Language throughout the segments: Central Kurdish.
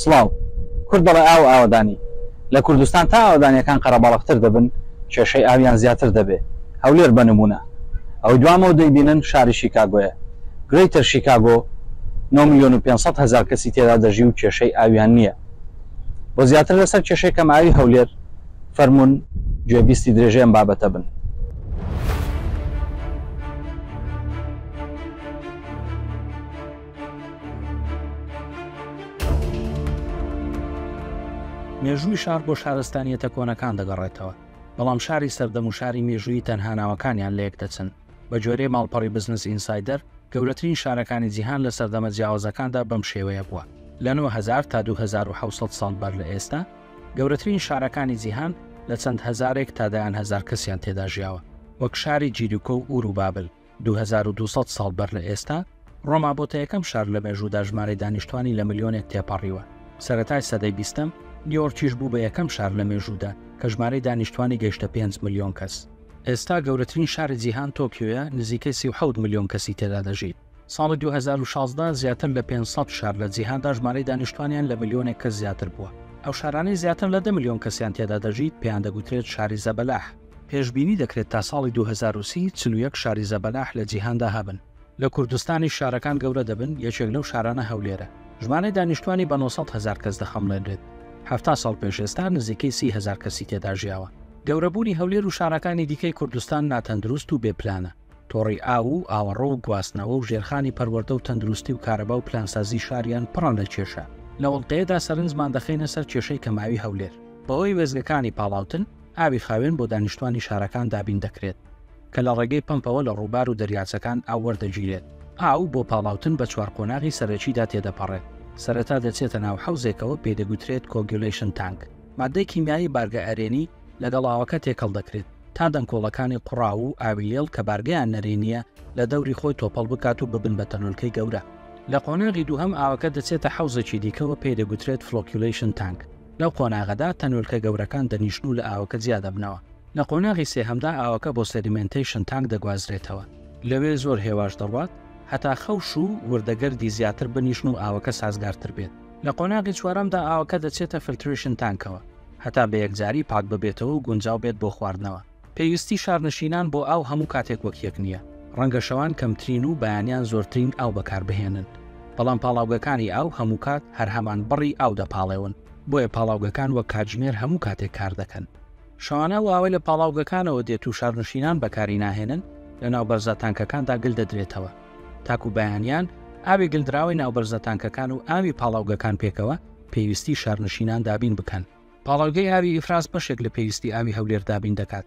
سڵاو. کورد دەڵێ ئاو ئاوەدانی. لە کوردستان تا ئاوەدانیەکان قەرەباڵغتر دەبن کێشەی ئاویان زیاتر دەبێ. هەولێر بە نموونە. ئەوەی دوامەوە دەیبینن شاری شیکاگۆیە. Greater Chicago نۆ ملیۆن و پێنج سەد هەزار کەسی تێدا دەژی و کێشەی ئاویان نییە. بۆ زیاتر لەسەر کێشەی کەمئاوی هەولێر فەرموون گوێبیستی درێژەی ئەم بابەتە بن. مێژووی شار بۆ شارستانیەتە کۆنەکان دەگەڕێتەوە بەڵام شاری سەردەم و شاری مێژووی تەنها ناوەکانیان لە یەک دەچن بە جۆرەی ماڵپەڕی بزنس ئینسایدەر گەورەترین شارەکانی جیهان لە سەردەمە جیاوازەکاندا بەم شێوەیە بووە لە 9000 تا 2600 ساڵ بەر لە ئێستا گەورەترین شارەکانی جیهان لە چەند هزارێک تا دەیان هزار کەسیان تێدا ژیاوە وەک شاری جیریکۆ و ئورو بابل دوو هەزار و دوو سەد ساڵ بەر لە ئێستا، ڕۆما بۆتە یەکەم شار لە مێژوودا ژمارەی دانیشتوانی لە ملیۆنێک تێپەڕیوە. سەرەتای سەدەی بیستەم، نیۆرکیش بوو بە یەکەم شار لە مێژوودا کە ژمارەی دانیشتوانی گەیشتە پێنج ملیۆن کەس. ئێستا گەورەترین شاری جیهان تۆکیۆیە، نزیکەی سی و حەوت ملیۆن کەسی تێدا دەژی. ساڵی دوو هەزار و شازدە، زیاتر لە پێنج سەد شار لە جیهاندا ژمارەی دانیشتوانیان لە ملیۆنێک کەس زیاتر بووە. ئەو شارانەی زیاتر لە دە ملیۆن کەسیان تێدا دەژیت، پێیان دەگوترێت شاری زەبەلاح. پێشبینی دەکرێت تا ساڵی دوو هەزار و سی چل و یەک شاری زەبەلاح لە جیهاندا هەبن. لە کوردستانیش شارەکان گەورە دەبن، یەکێک لەو شارانە هەولێرە، ژمارەی دانیشتووانی بە نۆ سەد هەزار کەس دەخەمڵێنرێت، حەفتا ساڵ پێش ئێستا نزیکەی سی هەزار کەسی تێدا ژیاوە. گەورەبوونی هەولێر و شارەکانی دیکەی کوردستان ناتەندروست و بێ پلانە. تۆڕی ئاو و ئاوەڕۆ و گواستنەوە و ژێرخانی پەروەردە و تەندروستی و کارەبا و پلانسازی شاریان پڕە لە کێشە. لە وڵقەیەدا سەرنجمان دەخەینە سەر کێشەی کەمئاوی هەولێر. بەهۆی وێستگەکانی پاڵاوتن، ئاوی خاوێن بۆ دانیشتوانی شارەکان دابین دەکرێت، کە لە ڕێگەی پەمپەوە لە ڕووبار و دەریاچەکان ئاو وەردەگیرێت. ئاو بۆ پاڵاوتن بە چوار قۆناغی سەرەکیدا تێدەپەڕێت، سەرەتا دەچێتە ناو حەوزێکەوە پێی دەگوترێت کۆگیولەیشن تانک، ماددەی کیمیایی بارگە ئەرێنی، لەگەڵ ئاوەکە تێکەڵ دەکرێت تا دەنکۆڵەکانی قوڕاو و ئاوی لێڵ کە بارگەیان نەرێنییە لە دەوری خۆی تۆپەڵ بکات و ببن بە تەنۆلکەی گەورە. لە قۆناغی دووهەم ئاوەکە دەچێتە حەوزێکی دیکەوە پێی دەگوترێت فڵۆکیولەیشن تانک، لەو قۆناغەدا تەنۆلکە گەورەکان دەنیشن و لە ئاوەکە جیا دەبنەوە. لە قۆناغی سێهەمدا ئاوەکە بۆ سێدیمێنتەیشن تانک دەگوازرێتەوە. لەوێ زۆر هێواش دەڕوات هەتا خەوش و وردەگەردی زیاتر بنیشن و ئاوەکە سازگارتر بێت. لە قۆناغی چوارەمدا ئاوەکە دەچێتە فلتریشن تانکەوە هەتا بە یەکجاری پاک ببێتەوە و گونجاو بێت بۆ خواردنەوە. پێویستی شارنشینان بۆ ئاو هەموو کاتێک وەک یەک نییە، ڕەنگە شەوان کەمترین و بەیانیان زۆرترین ئاو بەکاربهێنن، بەڵام پاڵاوگەکانی ئاو هەموو کات هەر هەمان بڕی ئاو دەپاڵێون، بۆیە پاڵاوگەکان وەک کاتژمێر هەموو کاتێک کار دەکەن. شەوانە ئەو ئاوەی لە پاڵاوگەکانەوە دێت و شارنشینان بەکاری ناهێنن، لەناو بەرزە تانکەکاندا گل دەدرێتەوە. تاکو بەیانیان ئاوی گلدراوی ناوبەرزە تانکەکان و ئاوی پاڵاوگەکان پێکەوە پێویستی شارنشینان دابین بکەن. پاڵاوگەی ئاوی ئیفراز بەشێک لە پێویستی ئاوی هەولێر دابین دەکات،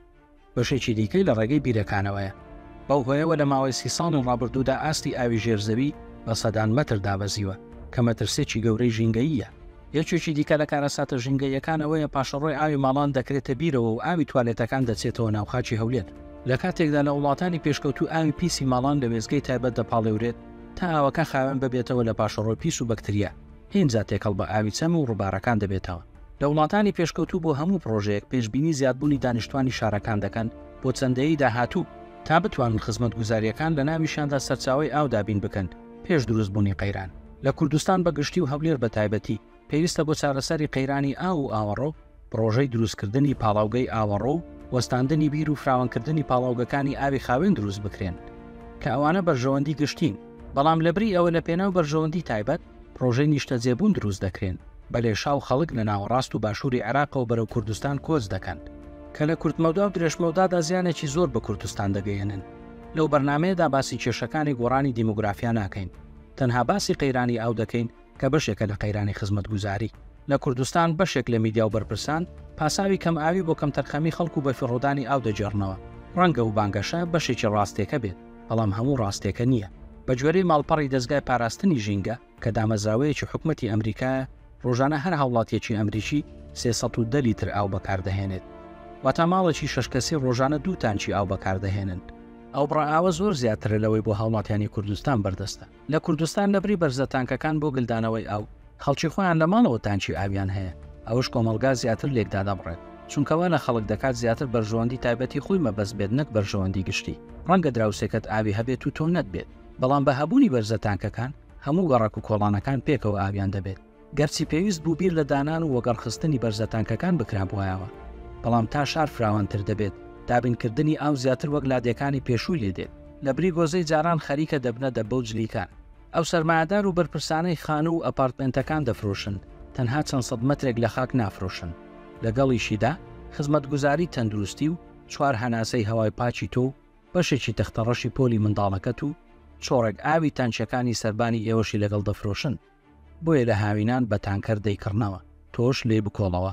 بەشێکی دیکەی لە ڕێگەی بیرەکانەوەیە. بەو هۆیەوە لە ماوەی سی ساڵی ڕابردوودا ئاستی ئاوی ژێر زەوی بە سەدان مەتر دابەزیوە، کە مەترسێکی گەورەی ژینگەییە. یەکێکی دیکە لە کارەساتە ژینگەییەکان ئەوەیە پاشەڕۆی ئاوی ماڵان دەکرێتە بیرەوە و ئاوی توالێتەکان دەچێتەوە ناو خاکی هەولێر، لە کاتێکدا لە وڵاتانی پێشکەوتوو ئاوی پیسی ماڵان لە وێستگەی تایبەت دەپاڵێورێت تا ئاوەکە خاوێن ببێتەوە لە پاشەڕۆی پیس و بەکتریا، ئینجا تێکەڵ بە ئاوی چەم و ڕووبارەکان دەبێتەوە. لە وڵاتانی پێشکەوتوو بۆ هەموو پڕۆژەیەک پێشبینی زیادبوونی دانیشتوانی شارەکان دەکەن بۆ چەند دەیەی داهاتوو، تا بتوانن خزمەتگوزارییەکان لە ناویشیاندا سەرچاوەی ئاو دابین بکەن پێش دروستبوونی قەیران. لە کوردستان بە گشتی و هەولێر بە تایبەتی، پێویستە بۆ چارەسەری قەیرانی ئاو و ئاوەڕۆ، پڕۆژەی دروستکردنی پاڵاوگەی ئاوەڕۆ و وەستاندنی بیر و فراوانکردنی پاڵاوگەکانی ئاوی خاوێن دروست بکرێن، کە ئەوانە بەرژەوەندی گشتین. بەڵام لەبری ئەوە لە پێناو بەرژەوەندی تایبەت، پڕۆژەی نیشتەجێبوون دروست دەکرێن، بە لێشاو خەڵک لە ناوەڕاست و باشووری عێراقەوە بەرەو کوردستان کۆچ دەکەن، کە لە کورتمەودا و درێژمەودادا زیانێکی زۆر بە کوردستان دەگەیەنن. لەو بەرنامەیەدا باسی کێشەکانی گۆڕانی دیمۆگرافیا ناکەین، تەنها باسی قەیرانی ئاو دەکەین کە بەشێکە لە قەیرانی خزمەتگوزاری. لە کوردستان بەشێک لە میدیا و بەرپرسان پاساوی کەمئاوی بۆ کەمتەرخەمی خەڵک و بەفیڕۆدانی ئاو دەگێڕنەوە. ڕەنگە ئەو بانگەشە بەشێکی ڕاستێکە بێت، بەڵام هەموو ڕاستێکە نییە. بەگوێرەی ماڵپەڕی دەزگای پاراستنی ژینگە کە دامەزراوەیەکی حکومەتی ئەمریکایە، ڕۆژانە هەر هاوڵاتییەکی ئەمریکی سێ سەد و دە لیتر ئاو بەکاردەهێنێت. واتە ماڵێکی شەش کەسی ڕۆژانە دوو تانکی ئاو بەکاردەهێنن. ئەو بڕە ئاوە زۆر زیاترە لەوەی بۆ هاوڵاتیانی کوردستان بەردەستە. لە کوردستان لە بری بەرزە تانکەکان بۆ گلدانەوەی ئاو، خەڵکی خۆیان لە ماڵەوە تانکی ئاویان هەیە، ئەوەش کۆمەڵگا زیاتر لێک دادەبڕێت، چونکە وا لە خەڵک دەکات زیاتر بەرژەوەندی تایبەتی خۆی مەبەست بێت نەک بەرژەوەندی گشتی. ڕەنگە دراوسێکەت ئاوی هەبێت و تۆ نەتبێت، بەڵام بە هەبوونی بەرزە تانکەکان، هەموو گەڕەک و کۆڵانەکان پێکەوە ئاویان دەبێت. گەرچی پێویست بوو بیر لە دانان و وەگەڕخستنی بەرزە تانکەکان بکرابوایەوە، بەڵام تا شار فراوانتر دەبێت، دابینکردنی ئاو زیاتر وەک لادێکانی پێشووی لێ دێت. لە بری گۆزەی جاران خەریکە دەبنە دەبە و جلیکان. ئەو سەرمایەدار و بەرپرسانەی خانوو و ئەپارتمێنتەکان دەفرۆشن، تەنها چەند سەد مەترێک لە خاک نافرۆشن. لەگەڵیشیدا، خزمەتگوزاری تەندروستی و چوار هەناسەی هەوای پاکی تۆ و بەشێکی تەختەڕەشی پۆلی منداڵەکەت و چۆڕێک ئاوی تانکییەکانی سەربانی ئێوەشی لەگەڵ دەفرۆشن. بۆیە لە هاوینان بە تانکەر دەیکڕنەوە تۆش لێی بکۆڵەوە.